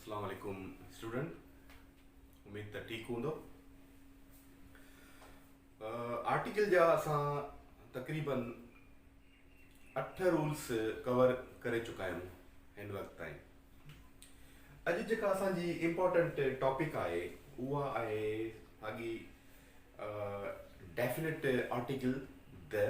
السلام عليڪم اسٽوڊنٽ اميد ته ٺيڪ هوندو آرٽيڪل جا اسان تقريبن اٺ رولس ڪور ڪري چڪا آهيون هن وقت تائين اڄ جيڪا اسان جي امپورٽنٽ ٽاپڪ آهي اها آهي ساڳي ڊيفنيٽ آرٽيڪل د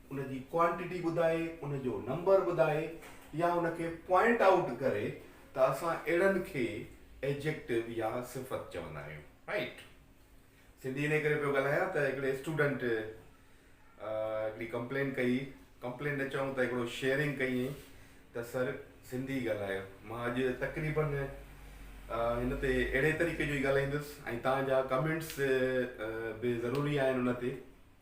ان جي ڪوانٽيٽي ٻڌائي، ان جو نمبر ٻڌائي يا ان کي پوائنٽ آئوٽ ڪري ته اسان اهڙن کي Adjective يا صفت چوندا آهيون رائيٽ سنڌي انهي ڪري پيو ڳالهايان ته هڪڙي اسٽوڊنٽ هڪڙي ڪمپلين ڪئي ڪمپلين نه چئون ته هڪڙو شيئرنگ ڪيئين ته سر سنڌي ڳالهايو مان اڄ تقريبن هن تي اهڙي طريقي جو ئي ڳالهائيندس ۽ تهان جا ڪمينٽس به ضروري آهن ان تي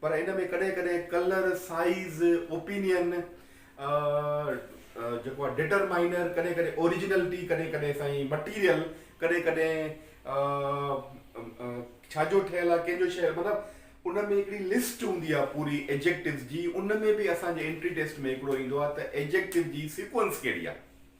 پر ان ۾ ڪڏهن ڪڏهن ڪلر، سائيز، اوپينين، جيڪو آهي ڊٽرمائنر، ڪڏهن ڪڏهن اوريجنلٽي، ڪڏهن ڪڏهن سائين مٽيريل، ڪڏهن ڪڏهن ڇا جو ٺهيل آهي، ڪنهن جو شهر مطلب ان ۾ هڪڙي لسٽ هوندي آهي پوري ايڊجيڪٽوز جي، ان ۾ به اسان جي انٽري ٽيسٽ ۾ هڪڙو ايندو آهي ته ايڊجيڪٽو جي سيڪوئنس ڪهڙي آهي.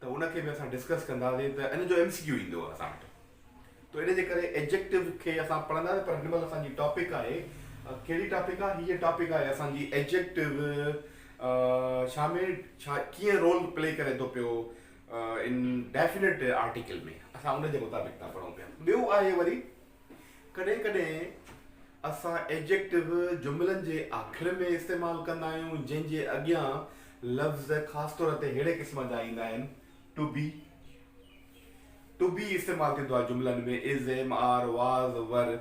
ته ان کي به اسان ڊسڪس ڪنداسين ته ان جو ايم سي ڪيو ايندو اسان وٽ تو ان جي ڪري ايڊجيڪٽو کي اسان پڙهنداسين پر هن مهل اسان جي ٽاپڪ آهي ڪهڙي ٽاپڪ آهي هيء ٽاپڪ آهي اسان جي ايڊجيڪٽو شا ۾ شا ڪيئن رول پلي ڪري ٿو پيو ان ڊيفينيٽ آرٽيڪل ۾ اسان ان جي مطابق ٿا پڙهون پيا ٻيو آهي وري ڪڏهن ڪڏهن اسان Adjective جملن جي آخر ۾ استعمال ڪندا آهيون جنهن جي اڳيان لفظ خاص طور تي ههڙي قسم جا ايندا آهن، To be، To be استعمال ٿيندو آهي جملن ۾ Is، Am، Are، Was، Were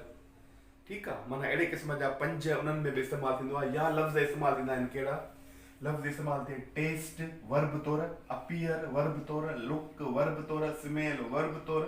ٺيڪ آهي معنيٰ اهڙي قسم جا پنج انهن ۾ به استعمال ٿيندو آهي يا لفظ استعمال ٿيندا آهن ڪهڙا لفظ استعمال ٿئي Taste، Verb طور Appear، Verb طور Look، Verb طور Smell، Verb طور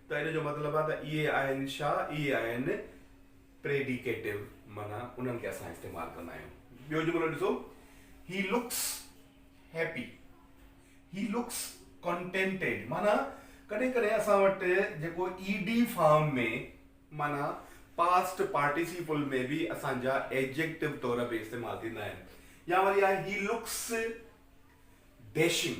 ته ان جو مطلب آهي ته اهي آهن شا اهي آهن پريڊيڪيٽو معنيٰ انهن کي اسان استعمال ڪندا آهيون. ٻيو جملو ڏسو he looks happy he looks contented معنيٰ ڪڏهن ڪڏهن اسان وٽ جيڪو اي ڊي فارم ۾ معنيٰ پاسٽ پارٽيسيپل ۾ به اسان جا ايڊجيڪٽو طور به استعمال ٿيندا آهن يا وري آهي هي لڪس ڊيشنگ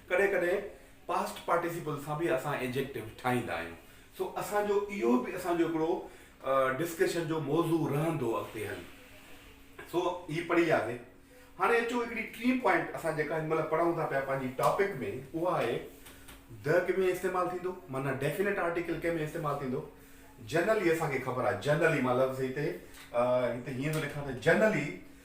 ڪڏهن ڪڏهن پاسٽ پارٽيسيپل سان به اسان ايڊجيڪٽو ٺاهيندا آهيون سو اسان جو اهو به اسان جو هڪڙو ڊسڪشن جو موضوع رهندو اڳتي هلي سو هي پڙهي وياسي هاڻي اچو هڪڙي ٽين پوائنٽ اسان جيڪا هن مهل پڙهون ٿا پيا پنهنجي ٽاپڪ ۾ اها آهي د ڪنهن ۾ استعمال ٿيندو معنيٰ ڊيفينيٽ آرٽيڪل ڪنهن ۾ استعمال ٿيندو جنرلي اسان کي خبر آهي جنرلي مان لفظ هتي هتي هيئن ٿو لکان ته generally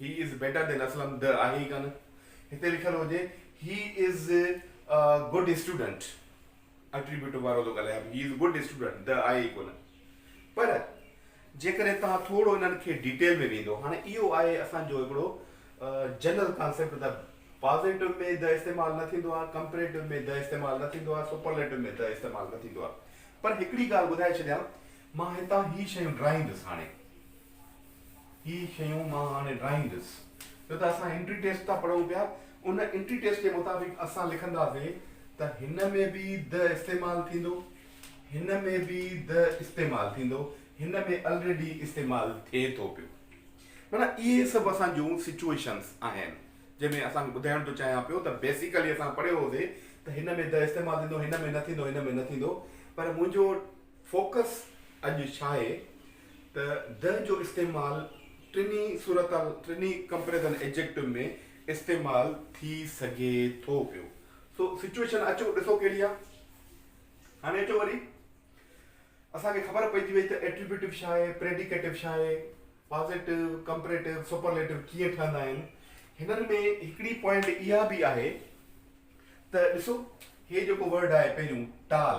He is better than Aslam the آهي ئي ڪانه هتي لکيل هجي He is a good student Attributive وارو ٿو ڳالهايان He is a good student د آهي ئي ڪونه پر جيڪڏهن توهان ٿورو انهن کي ڊيٽيل ۾ ويندو هاڻي اهو آهي اسان جو هڪڙو جنرل ڪانسيپٽ ته پازيٽو ۾ د استعمال نه ٿيندو آهي ڪمپريٽو ۾ د استعمال نه ٿيندو آهي سپرليٽو ۾ د استعمال نه ٿيندو آهي پر هڪڙي ڳالهه ٻڌائي ڇڏيان مان هتان هي شيون ڊراهيندس هاڻي هي شيون مان هاڻي ڊرائيندس. ڇو ته اسان انٽري ٽيسٽ ٿا پڙهون پيا. ان انٽري ٽيسٽ جي مطابق اسان لکنداسين ته هن ۾ به د استعمال ٿيندو، هن ۾ به د استعمال ٿيندو، هن ۾ الريڊي استعمال ٿئي ٿو پيو. معنيٰ اهي سڀ اسان جون سچوئيشنس آهن جنهن ۾ اسان ٻڌائڻ ٿو چاهيان پيو ته بيسيڪلي اسان پڙهيو هوسي ته هن ۾ د استعمال ٿيندو، هن ۾ نه ٿيندو، هن ۾ نه ٿيندو. پر منهنجو فوڪس اڄ ڇاهي؟ ته the جو استعمال ٽنهي صورتحال، ٽنهي ڪمپريزن ايڊجيڪٽو ۾ استعمال ٿي سگهي ٿو پيو. سو سچوئيشن اچو ڏسو ڪهڙي آهي. هاڻي اچو وري اسان کي خبر پئجي وئي ته ايٽريبيوٽو ڇا آهي، پريڊيڪيٽو ڇا آهي، پازيٽو، ڪمپريٽو، سپرليٽو ڪيئن ٺهندا آهن. هنن ۾ هڪڙي پوائنٽ اها به آهي ته ڏسو هي جيڪو ورڊ آهي پهريون ٽال،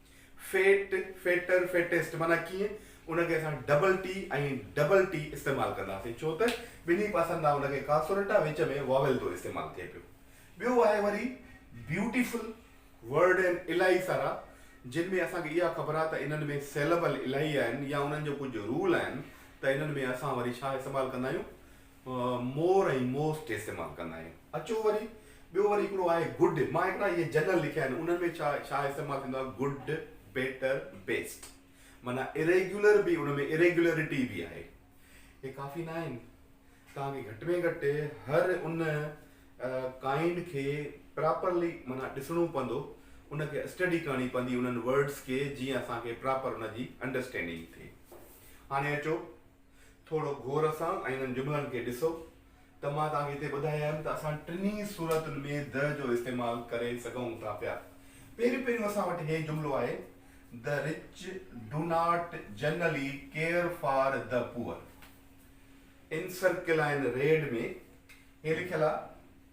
فيٽ، فيٽر، فيٽيسٽ معنيٰ ڪيئن؟ ان کي اسان ڊبل ٽي ۽ ڊبل ٽي استعمال ڪنداسين ڇو ته ٻنهي پاسن تان ان کي ڪانسوننٽ آ وچ ۾ واويل ٿو استعمال ٿئي پيو. ٻيو آهي وري بيوٽيفل ورڊ ۽ الائي سارا جن ۾ اسان کي اها خبر آ ته انهن ۾ سيلبل الائي آهن يا انهن جو ڪجهه رول آهن ته انهن ۾ اسان وري ڇا استعمال ڪندا آهيون مور ۽ موسٽ استعمال ڪندا آهيون. اچو وري ٻيو وري هڪڙو آهي گڊ مان هڪڙا اهي جنرل لکيا آهن انهن ۾ ڇا ڇا استعمال ٿيندو آهي گڊ بيٽر بيسٽ معنيٰ اريگيولر به ان ۾ اريگيولرٽي به آهي هي ڪافي نه آهن توهان کي گهٽ ۾ گهٽ هر ان ڪائنڊ کي پراپرلي معنيٰ ڏسڻو پوندو ان کي اسٽڊي ڪرڻي پوندي انهن ورڊس کي جيئن اسان کي پراپر ان جي انڊرسٽينڊنگ ٿئي هاڻي اچو ٿورو غور سان انهن جملن کي ڏسو ته مان توهان کي هتي ٻڌايم ته اسان ٽنهي صورتن ۾ The جو استعمال ڪري سگهون ٿا پيا. پهريون پهريون اسان وٽ هي جملو آهي The rich do not generally care for the poor. ان سرڪلائن ريڊ ۾ هي لکيل آهي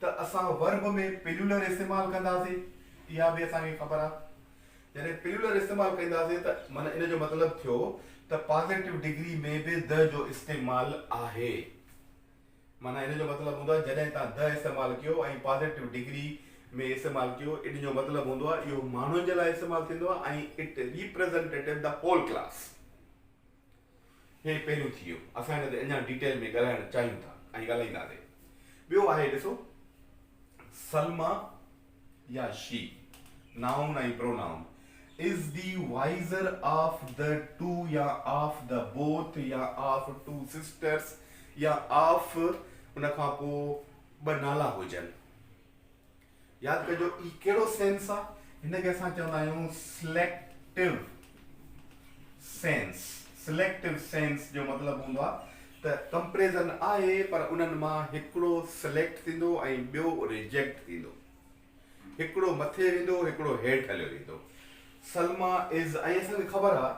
ته اسان ورب ۾ پليولر استعمال ڪنداسين، اها به اسان کي خبر آهي. جڏهن پليولر استعمال ڪنداسين ته معنيٰ ان جو مطلب ٿيو ته پازيٽو ڊگري ۾ به the جو استعمال آهي. معنيٰ ان جو مطلب هوندو آهي جڏهن تان the استعمال ڪيو ۽ پازيٽو ڊگري ۾ استعمال ڪيو ان جو مطلب هوندو آهي اهو ماڻهن جي لاء استعمال ٿيندو آهي ۽ it representative the whole class. هي پهريون ٿي ويو. اسان هن تي اڃا ڊيٽيل ۾ ڳالهائڻ چاهيون ٿا ۽ ڳالهائينداسي. ٻيو آهي ڏسو سلميٰ يا she, noun ۽ pronoun, is the wiser of the two يا آف دي بوٿ يا آف ٽو سسٽرس يا آف ان کان پوء ٻه نالا هجن. ياد ڪجو هي ڪهڙو سينس آ هن کي اسان چوندا آهيون سليڪٽو سينس سليڪٽو سينس جو مطلب هوندو آ ته ڪمپريزن آهي پر انهن مان هڪڙو سليڪٽ ٿيندو ۽ ٻيو ريجيڪٽ ٿيندو هڪڙو مٿي ويندو هڪڙو هيٺ هليو ويندو سلما از ۽ اسان کي خبر آ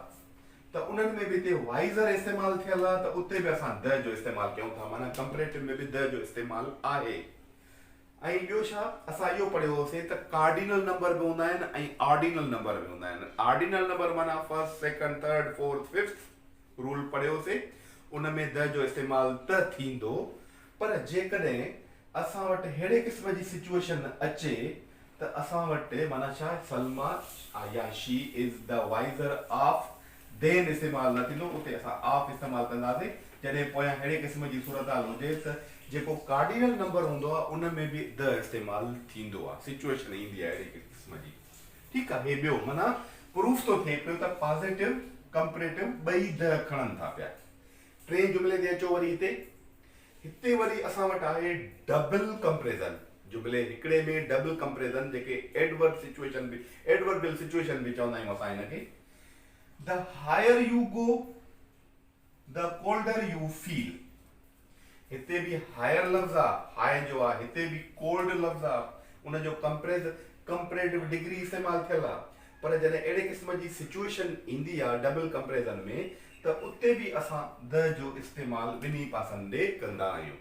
ته انهن ۾ به هتي وائزر استعمال ٿيل آ ته اتي به اسان د جو استعمال ڪيون ٿا معنيٰ ڪمپريٽو ۾ به د جو استعمال آهي ۽ ٻيو ڇا اسان اهو پڙهيو هوسين ته ڪارڊينل نمبر به هوندا آهن ۽ آرڊينل نمبر به هوندا آهن آرڊينل نمبر معنيٰ first second third fourth fifth rule پڙهيو هوسين ان ۾ د جو استعمال ته ٿيندو پر جيڪڏهن اسان وٽ ههڙي قسم جي سچوئيشن اچي ته اسان وٽ معنيٰ ڇا سلميٰ عياشي is the wiser of then استعمال نه ٿيندو اتي اسان آپ استعمال ڪنداسين جڏهن پويان ههڙي قسم جي صورتحال هجي ته جيڪو ڪارڊينل نمبر هوندو آهي ان ۾ به the استعمال ٿيندو آهي سچوئيشن ايندي آهي اهڙي قسم جي ٺيڪ آهي هي ٻيو معنيٰ پروف ٿو ٿئي پيو ته پازيٽو ڪمپريٽو ٻئي the کڻن ٿا پيا ٽئين جملي تي اچو وري هتي هتي وري اسان وٽ آهي ڊبل ڪمپريزن جملي هڪڙي ۾ ڊبل ڪمپريزن جيڪي ايڊورڊ سچوئيشن به ايڊورڊ بل سچوئيشن به چوندا آهيون اسان هن کي The higher you go the colder you feel هتي به higher لفظ آ high جو آ هتي به cold لفظ آ ان جو ڪمپريز Comparative Degree استعمال ٿيل آ پر جڏهن اهڙي قسم جي سچوئيشن ايندي آ ڊبل ڪمپريزن ۾ ته اتي به اسان the جو استعمال ٻنهي پاسن ڏي ڪندا آهيون.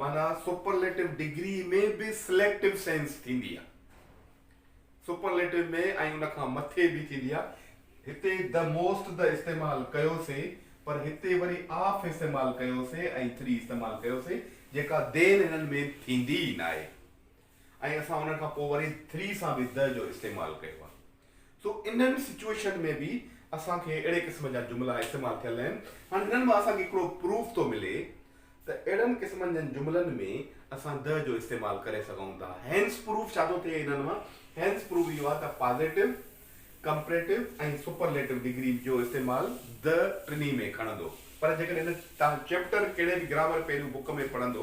معنيٰ سپرليٽو ڊگري ۾ به سليڪٽو سينس ٿيندي آهي. سپرليٽو ۾ ۽ ان کان مٿي به ٿيندي آهي. هتي the most the استعمال ڪيوسين پر هتي وري of استعمال ڪيوسين ۽ three استعمال ڪيوسين جيڪا دين هنن ۾ ٿيندي ئي ناهي. ۽ اسان ان کان پوء وري ٿري سان به the جو استعمال ڪيو آهي. سو انهن سچوئيشن ۾ به اسان کي اهڙي قسم جا جملا استعمال ٿيل آهن. هاڻ هنن مان اسان کي هڪڙو پروف ٿو ملي ته اهڙن قسمن جن جملن ۾ اسان the جو استعمال ڪري سگهون ٿا. هينس پروف ڇا ٿو ٿئي انهن مان؟ هينس پروف اهو آهي ته پازيٽو، ڪمپريٽو ۽ سپرليٽو ڊگري جو استعمال the ٽنهي ۾ کڻندو. پر جيڪڏهن توهان چيپٽر ڪهڙي به گرامر پهلو بڪ ۾ پڙهندو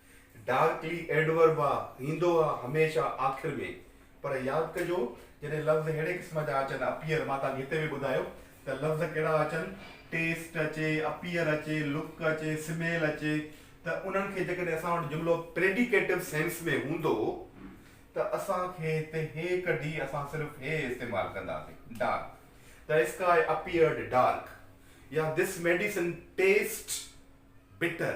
ڊارڪلي ايڊورب آ ايندو آ هميشه آخر ۾. پر ياد ڪجو جڏهن لفظ ههڙي قسم جا اچن، اپيئر، مان توهان کي هتي به ٻڌايو ته لفظ ڪهڙا اچن، ٽيسٽ اچي، اپيئر اچي، لڪ اچي، سميل اچي ته انهن کي جيڪڏهن اسان وٽ جملو پريڊيڪيٽو سينس ۾ هوندو ته اسان کي هتي هي ڪڍي اسان صرف هي استعمال ڪنداسين ڊارڪ ته اسڪائي اپيئرڊ ڊارڪ يا this medicine taste bitter.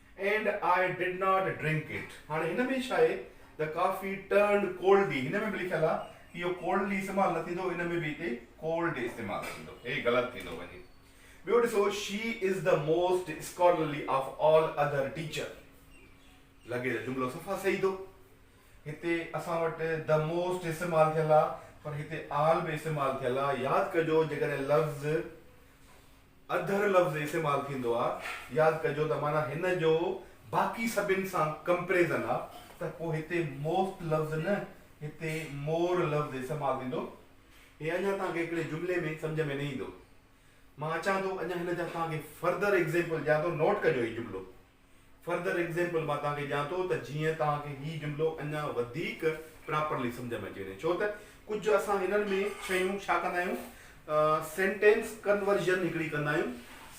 And I did not drink it هاڻي هن ۾ ڇا آهي ته ڪافي ٽرنڊ ڪولڊي هن ۾ به لکيل آهي اهو ڪولڊلي استعمال نه ٿيندو ان ۾ به هتي ڪولڊي استعمال ٿيندو هي غلط ٿيندو وڃي ٻيو ڏسو she is the most scholarly of all other teacher لڳي ته جملو صفا صحيح ٿو هتي اسان وٽ د موسٽ استعمال ٿيل آهي پر هتي آل به استعمال ٿيل آهي ياد ڪجو جيڪڏهن لفظ اڌر لفظ استعمال ٿيندو آ، ياد ڪجو ته معنيٰ هن جو باقي سڀن سان ڪمپريزن آ ته پوء هتي موسٽ لفظ نه هتي مور لفظ استعمال ٿيندو. هي اڃا توهان کي هڪڙي جملي ۾ سمجهه ۾ نه ايندو. مان اچان ٿو اڃا هن جا توهان کي فردر ايگزيمپل ڏيان ٿو نوٽ ڪجو هي جملو. Further Example مان توهان کي ڏيان ٿو ته جيئن توهان کي هي جملو اڃا وڌيڪ Properly سمجهه ۾ اچي وڃي ڇو ته ڪجهه اسان هنن ۾ شيون ڇا ڪندا آهيون Sentence Conversion هڪڙي ڪندا آهيون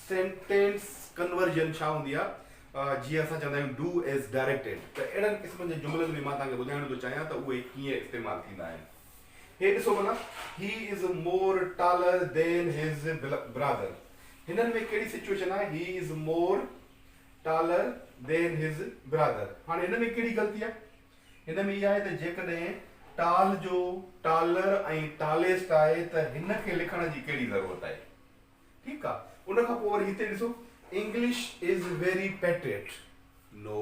Sentence Conversion ڇا هوندي آهي جيئن اسان چوندا آهيون Do As Directed ته اهڙن قسمن جي جملن ۾ مان توهان کي ٻڌائڻ ٿو چاهيان ته اهي ڪيئن استعمال ٿيندا آهن هي ڏسو ڀلا He Is More Taller Than His Brother هنن ۾ ڪهڙي سچوئيشن آهي he is more taller than his brother هاڻي هن ۾ ڪهڙي غلطي آهي هن ۾ اها آهي ته جيڪڏهن ٽال جو ٽالر ۽ ٽاليسٽ آهي ته هن کي لکڻ جي ڪهڙي ضرورت آهي ٺيڪ آهي ان کان پوء وري هتي ڏسو انگلش از ويري پيٽريٽ نو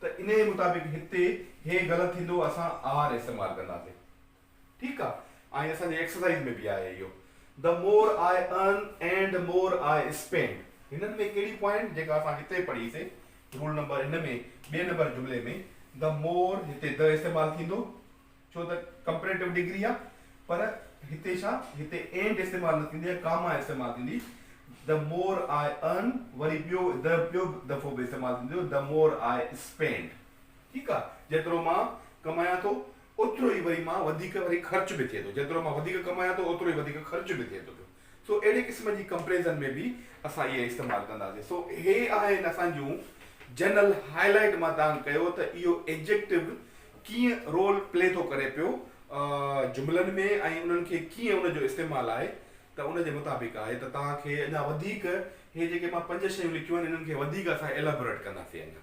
ته انهيء مطابق هتي هي غلط ٿيندو اسان آر استعمال ڪنداسين ٺيڪ آ ۽ اسان جي ايڪسرسائيز ۾ به آهي اهو The more I earn and more I spend هنن ۾ ڪهڙي پوائنٽ جيڪا اسان هتي پڙهي سي رول نمبر ان ۾ ٻئي نمبر جملي ۾ The more هتي The استعمال ٿيندو. ڇو ته ڪمپريٽو ڊگري آ پر هتي ڇا هتي اينڊ استعمال نه ٿيندي ۽ ڪاما استعمال ٿيندي The more I earn وري ٻيو the ٻيو دفعو به استعمال ٿيندو The more I spend ٺيڪ آ جيترو مان ڪمايان ٿو اوترو ئي وري مان وڌيڪ وري خرچ به ٿئي ٿو جيترو مان وڌيڪ ڪمايان ٿو اوترو ئي وڌيڪ خرچ به ٿئي ٿو پيو سو اهڙي قسم جي ڪمپريزن ۾ به اسان اهي استعمال ڪنداسين. سو اهي آهن اسان جون جنرل هاء لائيٽ مان تان ڪيو ته اهو ايڊجيڪٽو ڪيئن رول پلي ٿو ڪري پيو جملن ۾ ۽ انهن کي ڪيئن ان جو استعمال آهي ته ان جي مطابق آهي ته تان کي اڃا وڌيڪ هي جيڪي مان پنج شيون لکيون آهن انهن کي وڌيڪ اسان ايلابوريٽ ڪنداسين اڃا.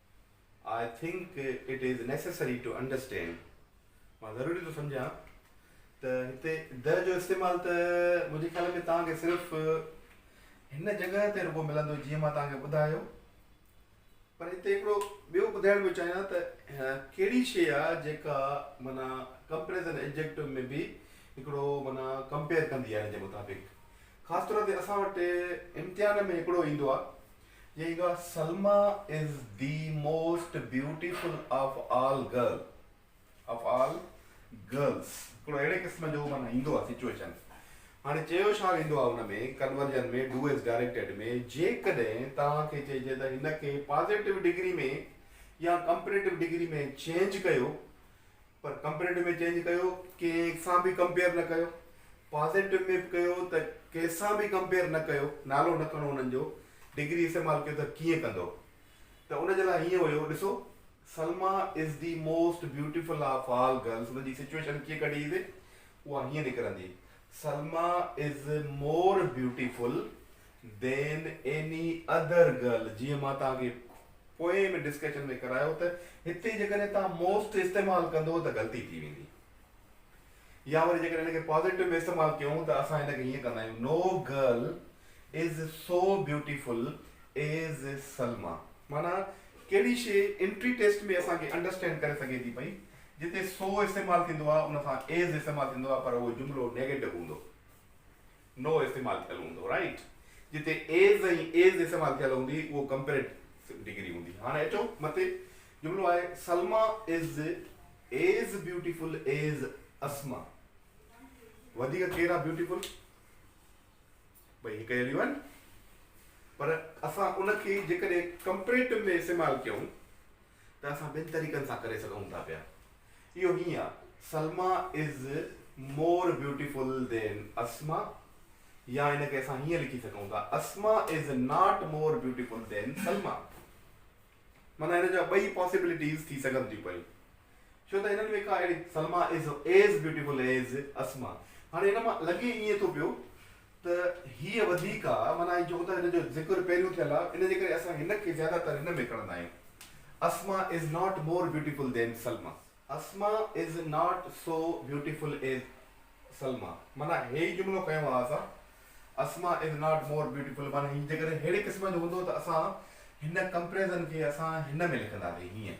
I think it is necessary to understand مان ضروري ٿو سمجهان ته هتي the جو استعمال ته منهنجي خيال ۾ توهان کي صرف هن جڳهه تي رڳو ملندو جيئن مان توهان کي ٻڌايو پر هتي هڪڙو ٻيو ٻڌائڻ پيو چاهيان ته ڪهڙي شيء آ جيڪا معنيٰ ڪمپريزن ايڊجيڪٽو ۾ به هڪڙو معنيٰ ڪمپيئر ڪندي آ هن جي مطابق خاص طور تي اسان وٽ امتحان ۾ هڪڙو ايندو آ جي گا Salma is the most beautiful of all girl of all girls هڪڙو اهڙي قسم جو معنيٰ ايندو آهي سچوئيشن هاڻي چيو ڇا ويندو آهي ان ۾ ڪنورجن ۾ ڊو ايز ڊائريڪٽيڊ ۾ جيڪڏهن توهان کي چئجي ته هن کي پازيٽو ڊگري ۾ يا ڪمپريٽو ڊگري ۾ چينج ڪيو پر ڪمپريٽو ۾ چينج ڪيو ڪنهن سان به ڪمپيئر نه ڪيو پازيٽو ۾ به ڪيو ته ڪنهن سان به ڪمپيئر نه ڪيو نالو نه کڻو انهن جو ڊگري استعمال ڪيو ته ڪيئن ڪندو ته ان جي لاء هيئن هيو ڏسو Salma is the most beautiful of all girls ان جي سچويشن ڪيئن ڪڍي اها هيئن نڪرندي Salma is more beautiful than any other girl جيئن مان توهان کي پوئين ۾ ڊسڪشن ۾ ڪرايو ته هتي جيڪڏهن توهان موسٽ استعمال ڪندو ته غلطي ٿي ويندي يا وري جيڪڏهن هن کي پازيٽو ۾ استعمال ڪيون ته اسان هن کي هيئن ڪندا آهيون no girl is so beautiful as Salma معنيٰ ڪهڙي شي انٽري ٽيسٽ ۾ اسان کي انڊرسٽينڊ ڪري سگهي ٿي پئي جتي سو استعمال ٿيندو آهي ان سان ايز استعمال ٿيندو آهي پر اهو جملو نيگيٽو هوندو. نو استعمال ٿيل هوندو رائيٽ جتي ايز ۽ ايز استعمال ٿيل هوندي اهو ڪمپيريٽو ڊگري هوندي هاڻي اچو مٿي جملو آهي Salma is as beautiful as Asma وڌيڪ ڪير آهي بيوٽيفل ٻئي هڪ اهڙيون آهن پر اسان ان کي جيڪڏهن ڪمپيريٽو ۾ استعمال ڪيون ته اسان ٻن طريقن سان ڪري سگهون ٿا پيا. اهو هيئن آهي، سلميٰ از مور بيوٽيفل دين اسماء يا ان کي اسان هيئن لکي سگهون ٿا، Asma is not more beautiful than Salma. معنيٰ هن جا ٻئي پاسيبلٽيز ٿي سگهن ٿيون پيون. ڇو ته هنن ۾ ڪا اهڙي Salma is as beautiful as Asma. هاڻي هن مان لڳي ائين ٿو پيو ته هيء وڌيڪ آ، معنيٰ اهي چئو ته هن جو ذڪر پهريون ٿيل آ، ان جي ڪري اسان هن کي زياده تر هن ۾ کڻندا آهيون. Asma is not more beautiful than Salma. Asma is not so beautiful as Salma, معنيٰ هي ئي جملو کنيو آ اسان، Asma is not more beautiful, معنيٰ هي جيڪڏهن ههڙي قسم جو هوندو ته اسان هن ڪمپريزن کي اسان هن ۾ لکنداسين، هينئن.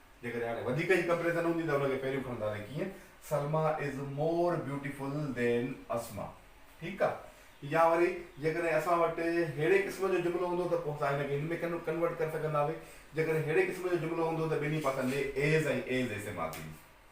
جيڪڏهن هاڻي وڌيڪ ئي ڪمپريزن هوندي ته ان کي پهريون کڻنداسين ڪيئن سلميٰ از مور بيوٽيفل دين اسماء ٺيڪ آ يا وري جيڪڏهن اسان وٽ ههڙي قسم جو جملو هوندو ته پوء اسان هن کي هن ۾ ڪنورٽ ڪري سگهندا هئي جيڪڏهن ههڙي قسم جو جملو هوندو ته ٻنهي پاسن ڏي از ۽ ايز استعمال ٿيندي.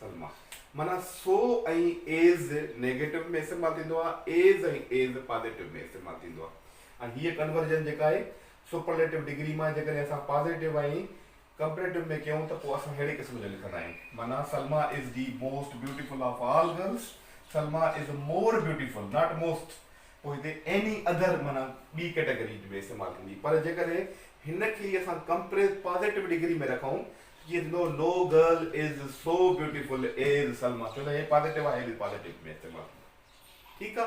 سلمه، معنيٰ سو ۽ ايز نيگيٽو ۾ استعمال ٿيندو آهي، ايز ۽ ايز پازيٽو ۾ استعمال ٿيندو آهي ۽ هيء ڪنورجن جيڪا آهي سپرليٽو ڊگري مان جيڪڏهن اسان پازيٽو ۽ ڪمپريٽو ۾ ڪيون ته پوء اسان ههڙي قسم جو لکندا آهيون، معنيٰ Salma is the most beautiful of all girls, Salma is more beautiful not most, پوء هتي ايني اڌر معنيٰ ٻي ڪيٽيگري ۾ استعمال ٿيندي پر جيڪڏهن هن کي ئي اسان ڪمپريٽو پازيٽو ڊگري ۾ رکون جي no no girl is so beautiful as Salma ڇو ته هي پازيٽو آهي هي به پازيٽو ۾ استعمال ٿيندو ٺيڪ آ.